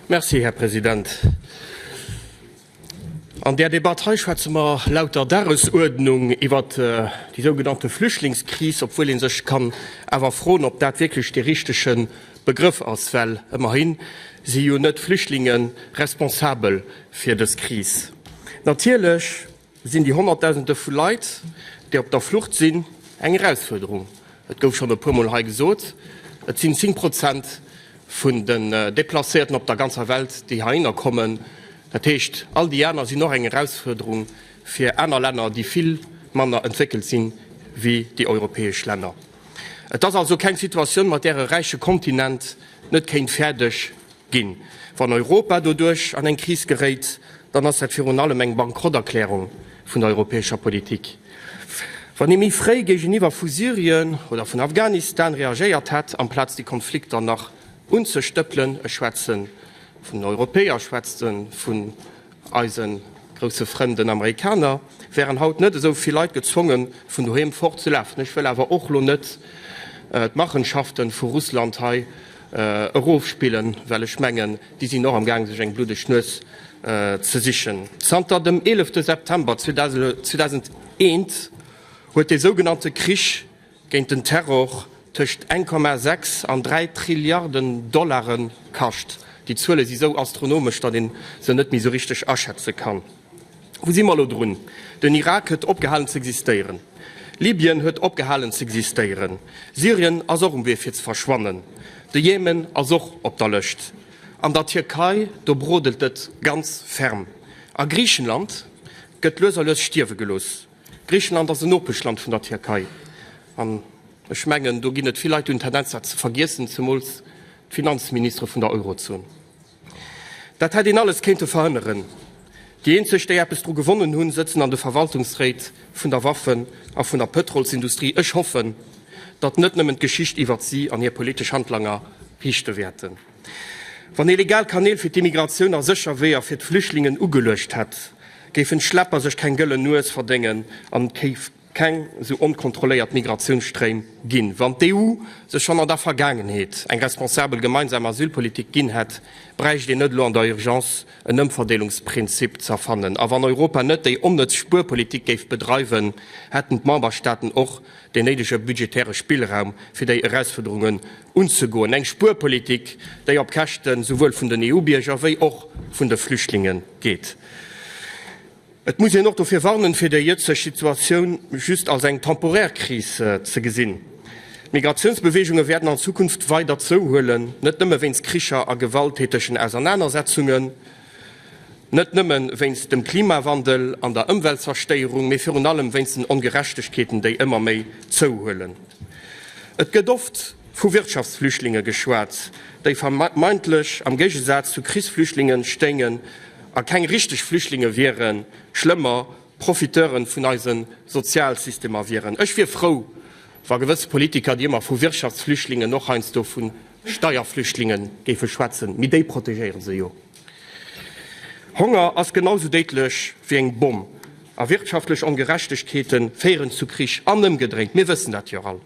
Merci, Här President. An där Debatt hei schwätze mer laut der Dagesuerdnung iwwer déi sougenannte Flüchtlingskris, obwuel ee sech kann awer froen, ob dat wierklech dee richtege Begrëff ass, well ëmmerhi si jo net d'Flüchtlingen responsabel fir dës Kris. Natierlech. Sinn déi Honnertdausende vu Leit, déi op der Flucht sinn, eng Erausfuerderung? Et gouf schonn e puermol hei gesot, et sinn 10 Prozent vun den Deplacéierten op der ganzer Welt, déi heihinner kommen. Dat heescht, all déi aner sinn och eng Erausfuerderung fir aner Länner, déi vill manner entwéckelt sinn, wéi déi europäesch Länner. Et ass also keng Situatioun, mat där e räiche Kontinent net kéint fäerdeg Ginn. Wann Europa doduerch an eng Kris geréit, dann ass dat virun allem eng Bankrotterklärung vun der europäescher Politik. Wann ee méi fréi géigeniwwer vu Syrien oder vun Afghanistan reagéiert hätt, amplaz déi Konflikter nach unzestëppelen, ech schwätze vun Europäer, schwätze vun Eise grousse Frënn den Amerikaner wären haut net esou vill Leit gezwonge vun doheem fort ze lafen. Ech wëll awer och lo net d'Machenschafte vu Russland hei erofspillen, well ech mengen, déi sinn och am gaang sech eng bluddeg Nues ze sichen. Zanter dem 11 September 2001 huet dee sougenannte Krich géint den Terror tëscht 1,6 an 3 Trilliarden Dollare kascht. Déi Zuele si sou astronomesch, datt ee se net méi sou richteg aschätze kann. Wou si mer elo drun? Den Irak huet opgehalen z'existéieren. Libyen huet opgehalen z'existéieren. Syrien ass och um Wee fir ze verschwannen. De Jemen ass och op der Lëscht. An der Tierkei, do brodelt et ganz ferm. A Griichenland gëtt lues a lues stierwe gelooss. Griichenland ass en Nopeschland vun der Tierkei an ech mengen, do ginn et vill Leit, déi hunn d'Tendenz, dat ze vergiessen, zemools d'Finanzministere vun der Eurozon. Dat hätt een alles kéinte verhënneren. Déi eenzeg, déi eppes dru gewonnen hunn, sëtzen an de Verwaltungsréit vun der Waffen a vun der Pëtrolsindustrie. Ech hoffen, datt net nëmmen d'Geschicht iwwert si an hir politesch Handlanger riichte wäerten. Wann ee legal Kanäl fir d'Immigratioun a sécher Weeër fir d'Flüchtlingen ugeluecht hätt, géifen d'Schlepper sech keng gëllen Nues verdéngen an et géif keng sou onkontrolléiert Migratiounsstréim ginn. Wann d'EU sech schonn an der Vergaangenheet eng responsabel gemeinsam Asylpolitik ginn hätt, bräicht een net elo an der Urgence en Ëmverdeelungsprinzip z'erfannen. A wann Europa net déi onnëtz Spuerpolitik géif bedreiwen, hätten d'Memberstaaten och den néidege budgetäre Spillraum, fir déi Erausfuerderunge unzegoen, eng Spuerpolitik, déi op Käschte souwuel vun den EU-Bierger wéi och vun de Flüchtlinge geet. Et muss een och dofir warnen, fir déi jëtzeg Situatioun just als eng temporär Kris ze gesinn. D'Migratiounsbeweegunge wäerten an Zukunft weider zouhuelen, net nëmme wéinst Kricher a gewalttätegen Ausernanersetzungen, Net nëmme wéinst dem Klimawandel an der Ëmweltzerstéierung, mee virun allem wéinst den Ongerechtegkeeten, déi ëmmer méi zouhuelen. Et gëtt oft vu Wirtschaftsflüchtlinge geschwat, déi vermeintlech am Géigesaz zu Krichsflüchtlinge stéingen a keng richteg Flüchtlinge wieren, schlëmmer, Profiteure vun eise Sozialsystemer wieren. Ech wier frou, Wa gewëss Politiker, déi ëmmer vu Wirtschaftsflüchtlingen, och heiansdo vu Steierflüchtlinge géife schwätzen, mee déi protegéiere se jo. Honger ass genau esou déidlech wéi eng Bomm a wirtschaftlech Ongerechtegkeete féieren zu Krich an ëmgedréint. Mir wëssen dat jo all.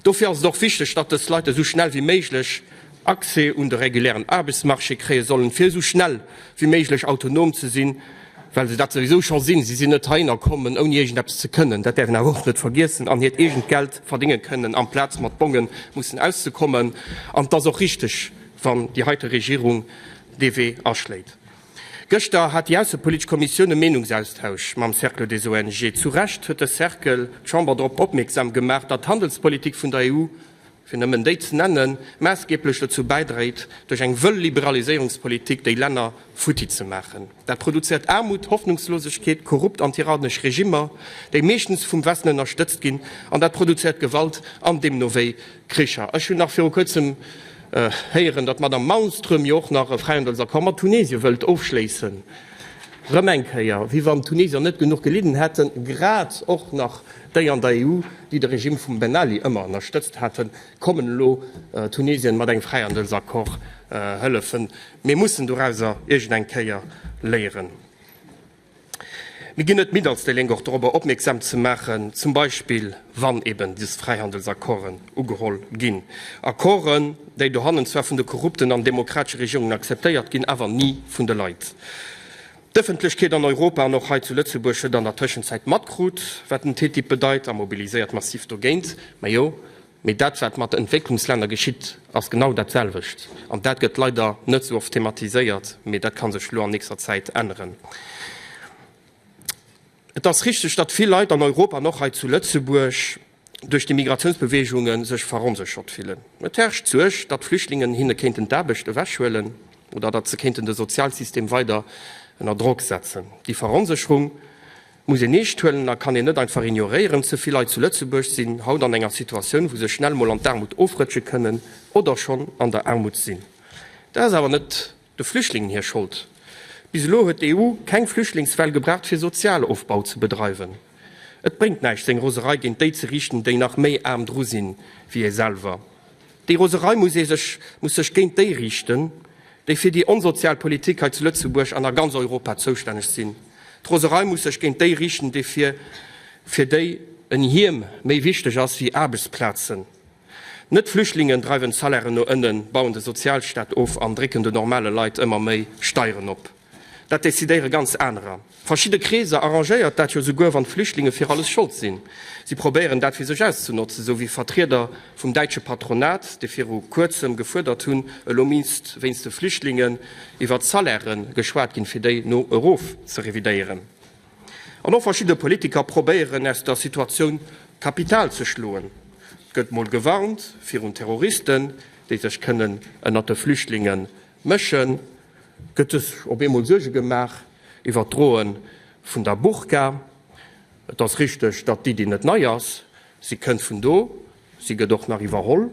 Dofir ass et och wichteg, datt dës Leit esou schnell wéi méiglech Accès un de regulären Aarbechtsmarché kréie sollen, fir esou schnell wéi méiglech autonom ze sinn, well se dat souwisou scho sinn. Si sinn net heihinner kommen, ouni iergendeppes ze kënnen, dat däerf een awer och net vergiessen, an hiert eegent Geld verdénge kënnen, amplaz mat Bongen mussen auszekommen. An et ass och richteg, wann déi heite Regierung dee Wee aschléit. Gëschter hat déi aussepolitesch Kommissioun e Meenungsaustausch mam Cercle des ONG. Zu Recht huet de Cercle d'Chamber drop opmierksam gemaach, datt d'Handelspolitik vun der EU, fir nëmmen déi ze nennen, maassgeeblech dozou bäidréit, duerch eng wëll Liberaliséierungspolitik déi Länner futti ze maachen. Dat produzéiert Aarmut, Hoffnungslosegkeet, korrupt an tyrannesch Regimmer, déi meeschtens vum Westen ënnerstëtzt ginn, an dat produzéiert Gewalt an deemno wéi Kricher. Ech hunn nach viru kuerzem héieren, datt d'Madame Malmström jo och nach e Fräihandelsaccord mat Tunesien wëllt ofschléissen, erëm eng Kéier, wéi wann d'Tunesier net genuch gelidden hätten, grad och nach. déi an der EU, déi de Regime vum Ben Ali ëmmer ënnerstëtzt haten, kommen elo Tunesien mat engem Fräihandelsaccord hëllefen. Mir mussen dorauser iergend eng Kéier léieren. Mir ginn net midd als déi Lénk och dorobber opmierksam ze maachen, zum Beispill wann eben des Fräihandelsaccorden ugeholl ginn, Accorden, déi dohannen zwar vun de korrupten an demokratesche Regierungen akzeptéiert ginn, awer ni vun de Leit. D'Ëffentlechkeet an Europa an och hei zu Lëtzebuerg huet an der Tëschenzäit matkrut, wat den TTIP bedeit a mobiliséiert massiv dogéint. Majo, mee dat wat mat Entwécklungslänner geschitt ass genau dat selwecht an dat gëtt leider net esou oft thematiséiert, mee dat ka sech elo an nächster Zäit änneren. Et ass richteg, datt vill Leit an Europa an och hei zu Lëtzebuerg duerch déi Migratiounsbeweegunge sech veronséchert fillen. Et herrscht d'Suerg, datt Flüchtlingen hinne kéinten d'Aarbecht ewechhuelen oder datt se kéinten de Sozialsystem weider ënner Drock setzen. Déi Veronsécherung muss een eescht huelen a kann een net einfach ignoréieren. Ze vill Leit zu Lëtzebuerg sinn haut an enger Situatioun, wou se schnell mol an d'Aarmut ofrëtsche kënnen oder schonn an der Aarmut sinn. Dat ass awer net De Flüchtlingen hir Schold. Bis elo huet d'EU keng Flüchtlingswell gebraucht fir Sozialofbau ze bedreiwen. Et bréngt näischt seng Roserei géint déi ze riichten, déi nach méi aarm dru sinn wéi ee selwer. Déi Roserei muss ee sech, muss sech géint déi riichten, déi fir déi onsozial Politik hei zu Lëtzebuerg an a ganz Europa zoustänneg sinn. D'Roserei muss sech géint déi riichten, déi fir, fir déi en Hiem méi wichteg ass wéi Aarbechtsplazen. Net d'Flüchtlingen dreiwen d'Salairen no ënnen, bauen de Sozialstaat of an drécken de normale Leit ëmmer méi Steieren op. Dat decidéiere ganz anerer. Verschidde Kreeser arrangéiert dat jo souguer, wann d'Flüchtlinge fir alles schold sinn. Si probéieren dat fir sech auszenotzen, sou wéi Vertrieder vum däitsche Patronat, déi viru kuerzem gefuerdert hunn, elo misst wéinst de Flüchtlingen iwwert d'Salaire geschwat ginn, fir déi no erof ze revidéieren. An och verschidde Politiker probéieren aus der Situatioun Kapital ze schloen. Et gëtt mol gewarnt virun Terroristen, déi sech kënnen ënnert de Flüchtlinge mëschen. Et gëtt sech op eemol Suerge gemaach iwwer d'Droe vun der Burka. Et ass richteg, datt d'Iddi net nei ass. Si kënnt vun do, si gëtt och nach iwwerholl.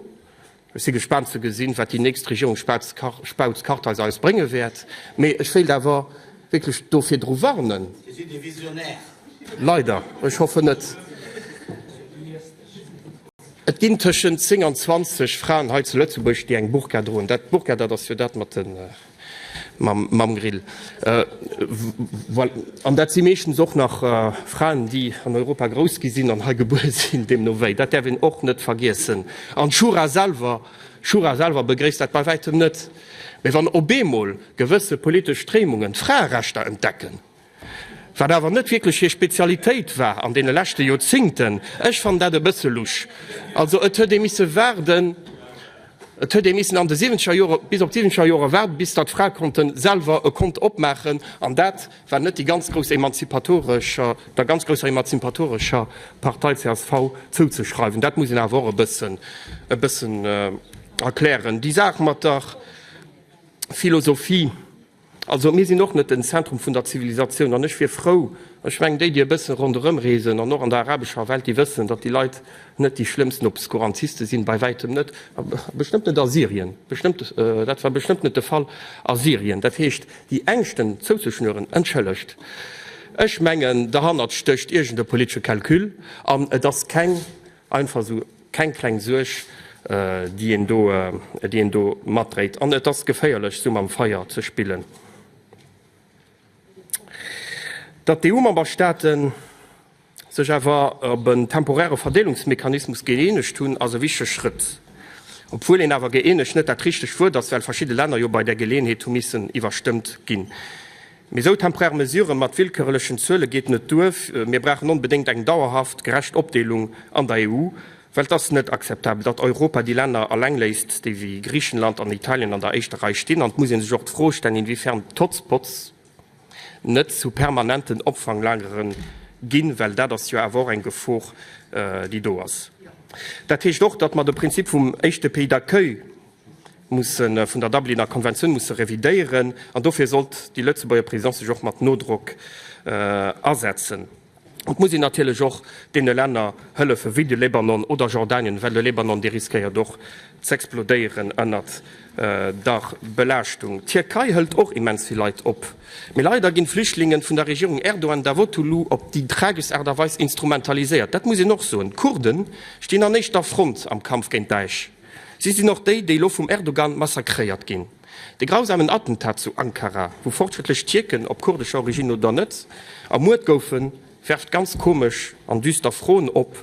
Ech si gespaant ze gesinn, wat déi nächst Regierung Spautz-Kartheiser eis brénge wäert. Mee ech wéilt awer wierklech do virdru warnen. Dir sidd ee Visionär. Leider. Ech hoffen net. Et ginn tëschent 10 an 20 Fraen hei zu Lëtzebuerg, déi eng Burka droen. Dat d'Burka, dat ass jo dat mat den. Mam Grill. An dat si meeschtens och nach Fraen, déi an Europa grouss gi sinn an hei gebuer sinn. Deemno wéi, dat däerf een och net vergiessen. An d'Shura selwer, d'Shura selwer begréisst dat bei wäitem net. Mee wann op eemol gewësse politesch Stréimungen d'Fraerechter entdecken, wat awer net wierklech hir Spezialitéit war an deene leschte Joerzingten. Ech fannen dat e bësse lusch. Also et huet ee misse waarden, et huet ee missen an de siwwenzeger Joren, bis op d'siwwenzeger Joren waarden, bis datt Frae konnte selwer e Kont opmaachen, an dat war net déi ganz grouss emanzipatorescher, der ganz grousser emanzipatorescher Partei csv zouzeschreiwen. Dat muss een awer och e bëssen, e bëssen erklären. Déi Saach mat der Philosophie. Also mir sinn och net den Zentrum vun der Zivilisatioun an ech wier frou, ech mengen déi, déi e bëssen ronderëm reesen an och an der arabescher Welt, déi wëssen, datt déi Leit net déi schlëmmsten Obskurantisten sinn, bei wäitem net, a bestëmmt net a Syrien, bestëmmt, dat war bestëmmt net de Fall a Syrien. Dat heescht, déi Ängschten zouzeschnüren, entschëllegt, ech mengen derhannert stécht iergend e politesche Calcul an et ass keng, Einfach esou keng kleng Suerg, déi een do matdréit. An et ass geféierlech, esou mam Feier ze spillen. Datt d'EU-Memberstaate sech awer op en temporäre Verdeelungsmechanismus gëeenegt hunn, ass e wichtege Schrëtt, obwuel een awer gëeenegt net dat richtegt Wuert ass, well verschidde Länner jo bei där Geleeënheet hu missen iwwerstëmmt ginn. Mee sou temporär Mesuren mat willkörerlechen Zuelen geet net duer. Mir brauchen onbedéngt eng dauerhaft gerecht Opdeelung an der EU, well et ass net akzeptabel, datt Europa déi Länner alleng léisst, déi wéi Griechenland an Italien an der éischter Rei stinn. An et muss ee sech och d'Fro stellen, inwiefern d'Hotspots net zu permanenten Opfanglagere ginn, well dat ass jo awer och eng Gefor, déi do ass. Dat heescht och, datt mer de Prinzip vum éischte Pays d'accueil, mussen vun der Dubliner Konventioun musse revidéieren, an dofir sollt déi Lëtzebuerger Presidence sech och mat Nodrock asetzen. Et muss een natierlech och deene Länner hëllefen, wéi de Libanon oder Jordanien, well de Libanon, dee riskéiert och z'explodéieren ënnert der Belaaschtung. D'Tierkei hëlt och immens vill Leit op, mee leider ginn d'Flüchtlingen vun der Regierung Erdogan-Davotoglu op déi trageschst Aart a Weis instrumentaliséiert. Dat muss een och soen. D'Kurden stinn an éischter Front am Kampf géint Daesh. Si sinn och déi, déi elo vum Erdogan massakréiert ginn. De grausamen Attentat zu Ankara, wou fortschrëttlech Tierken, op kurdescher Originn oder net, ermuert goufen, werft ganz komesch an düster Froen op.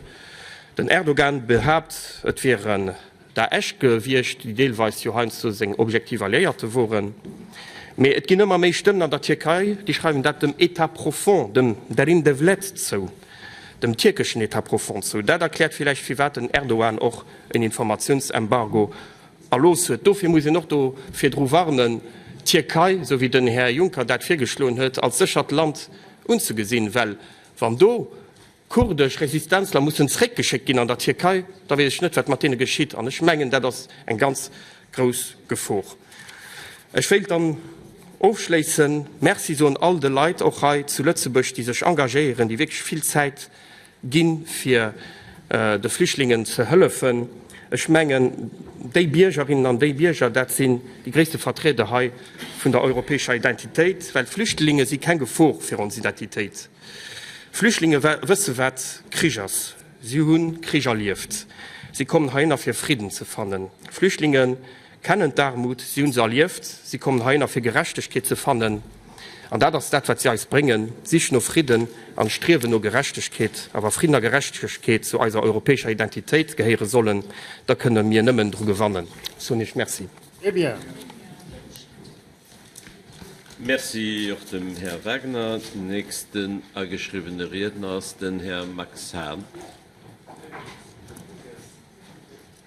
Den Erdogan behaapt, et wieren Daesh gewiescht, déi deelweis jo heiansdo seng objektiv Alliéierte woren. Mee et ginn ëmmer méi Stëmmen an der Tierkei, déi schreiwen dat dem État profond, dem derin devlet zou, dem tierkeschen État profond zou. Dat erkläert villäicht, firwat den Erdogan och en Informatiounsembargo erlooss huet. Dofir muss een och do virdru warnen, d'Tierkei, esou wéi den Här Juncker dat virgeschloen huet, als séchert Land unzegesinn, well wann do kurdesch Resistenzler mussen zeréckgeschéckt ginn an der Tierkei, da weess ech net, wat mat deene geschitt. An ech mengen, dat ass eng ganz grouss Gefor. Ech wéilt dann ofschléissen, Merci soen all de Leit och hei zu Lëtzebuerg, déi sech engagéieren, déi wierklech vill Zäit, Ginn, fir de Flüchtlingen ze hëllefen. Ech mengen, déi Biergerinnen an déi Bierger, dat sinn déi gréisste Vertrieder hei vun der europäescher Identitéit, well d'Flüchtlinge si keng Gefor fir ons Identitéit. Flüchtlinge wësse wat Krich ass, si hu Krich erlieft, si kommen heihinner fir Fridden ze fannen. Flüchtlinge. kennen d'Aarmut, si hu se erlieft, si kommen heihinner fir Gerechtegkeet ze fannen. An dat ass dat wat si eis bréngen, d'Sich no Fridden an d'Striewen no Gerechtegkeet. A wa Fridden a Gerechtegkeet zu eiser europäescher Identitéit gehéiere sollen, da kënne mir nëmmen dru gewannen. Ech soen Iech Merci. Très bien. Merci och dem Här Wagner. Den nächsten ageschriwwene Riedner ass den Här Max Hahn.